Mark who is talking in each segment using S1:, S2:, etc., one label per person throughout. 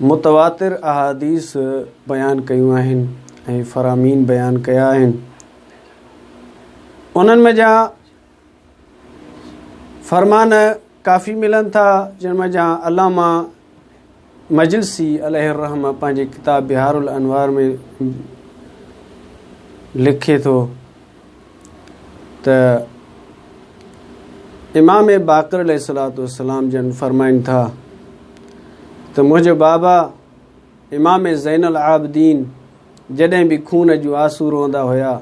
S1: متواتر احاديث بيان ڪيون آهن ۽ فرامين بيان ڪيا آهن. انهن ۾ جا فرمان ڪافي ملن ٿا جن ۾ جا علامه مجلسي عليه الرحم پنهنجي ڪتاب بهار الانوار ۾ لکي ٿو ته امام باقر عليه الصلوۃ والسلام جن فرمائن ٿا ته منهنجو بابا امام زين العابدين جڏهن به خون جون آسو روئندا هيا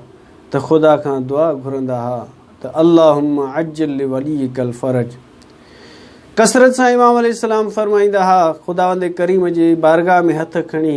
S1: ته خدا کان دعا گهرندا ها ته اللهم عجل لوليك الفرج ڪثرت سان امام عليه السلام فرمائيندا ها خداوند ڪريم جي بارگاهه ۾ هٿ کڻي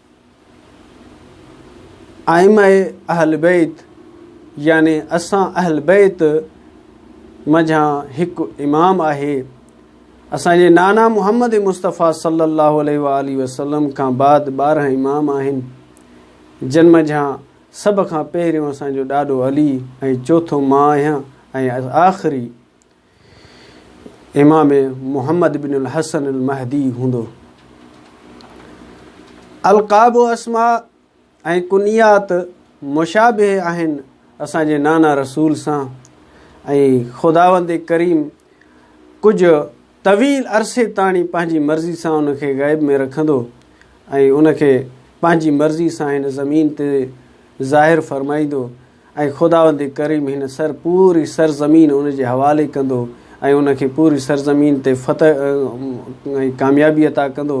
S1: ائمه اهل بيت يعني اسان اهل بيت منجهان هڪ امام آهي. اسان جي نانا محمد مصطفيٰ صلّي الله عليه واٰله وسلّم کان بعد ٻارهن امام آهن، جن منجهان سڀ کان پهريون اسان جو ڏاڏو علي ۽ چوٿون مان آهيان ۽ آخري امام محمد بن الحسن المهدي هوندو. القاب و اسماء ۽ ڪنيات مشابه آهن اسان جي نانا رسول سان ۽ خداوند ڪريم ڪجهه طويل عرصي تاڻي پنهنجي مرضي سان ان کي غيب ۾ رکندو ۽ ان کي پنهنجي مرضي سان هن زمين تي ظاهر فرمائيندو ۽ خداوند ڪريم هن سر پوري سرزمين ان جي حوالي ڪندو ۽ ان کي پوري سرزمين تي فتح ۽ ڪاميابي عطا ڪندو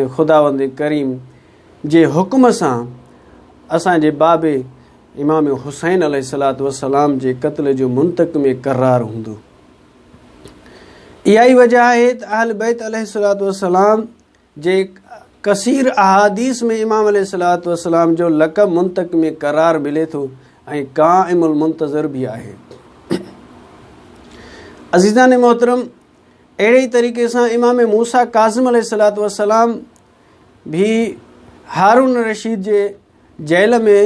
S1: ۽ خداوند ڪريم جي حڪم سان اسان جي بابي امام حسين عليه الصلاة والسلام جي قتل جو منتقم ڪرار هوندو اها ئي وجه آهي ته اهل بيت عليه الصلاة والسلام جي ڪثير احاديث ۾ امام عليه الصلوة والسلام جو لقب منطق ۾ قرار ملي ٿو ۽ قائم المنتظر به آهي عزيزان محترم اهڙي ئي طريقي سان امام موسا ڪاظم عليه الصلوة والسلام به هارون رشيد جي جيل ۾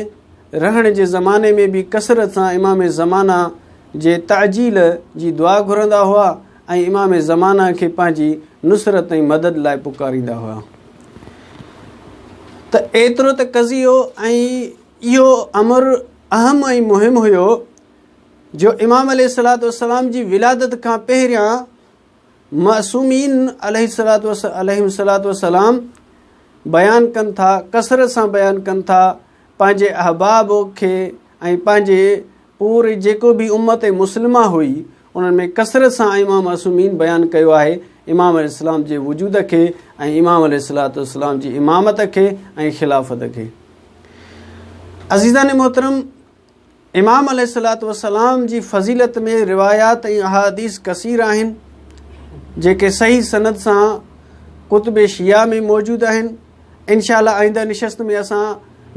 S1: رهڻ جي زماني ۾ به ڪثرت سان امام زمانه جي تعجيل جي دعا گهرندا هئا ۽ امام زمانه کي پنهنجي نصرت ۽ مدد لاء پڪاريندا هئا ته ايترو ته قضيو ۽ اهو امر اهم ۽ مهم هيو جو امام عليه الصلاة والسلام جي ولادت کان پهريان معصومين عليهم الصلوة والسلام بيان ڪن ٿا ڪثرت سان بيان ڪن ٿا پنهنجي احباب کي ۽ پنهنجي پوري جيڪو به امت مسلمه هئي انهن ۾ ڪثرت سان امام معصومين بيان ڪيو آهي امام عليه السلام جي وجود کي ۽ امام عليه الصلاة والسلام جي امامت کي ۽ خلافت کي عزيزان محترم امام عليه الصلوة والسلام جي فضيلت ۾ روايات ۽ احاديث ڪثير آهن جيڪي صحيح سند سان ڪتب شيعه ۾ موجود آهن انشاء الله آئنده نشست ۾ اسان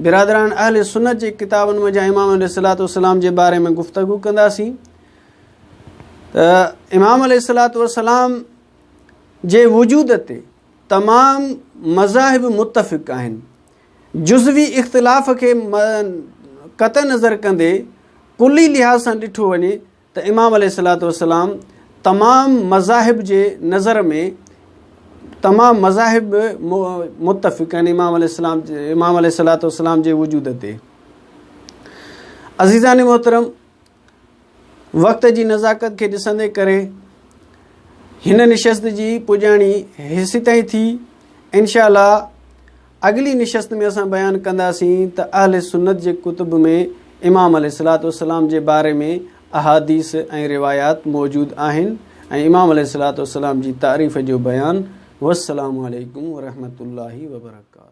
S1: برادران اهل سنت جي ڪتابن منجهان امام عليه الصلوة والسلام جي باري ۾ گفتگو ڪنداسين ته امام عليه الصلوة والسلام جي وجود تي تمام مذاهب متفق آهن جزوي اختلاف کي قطع نظر ڪندي ڪلي لحاظ سان ڏٺو وڃي ته امام عليه الصلاة والسلام تمام مذاهب جي نظر ۾ تمام مذاهب متفق آهن امام عليه السلام امام عليه الصلاة والسلام جي وجود تي عزيزان محترم وقت جي نزاڪت کي ڏسندي ڪري هن نشست جي پڄاڻي هيسي تائين ٿي انشاء الله اڳلي نشست ۾ اسان بيان ڪنداسين ته اهل سنت جي ڪتب ۾ امام عليه الصلاة والسلام جي باري ۾ احاديث ۽ روايات موجود آهن ۽ امام عليه الصلاة والسلام جي تعريف جو بيان والسلام عليڪم ورحمة الله وبرڪاته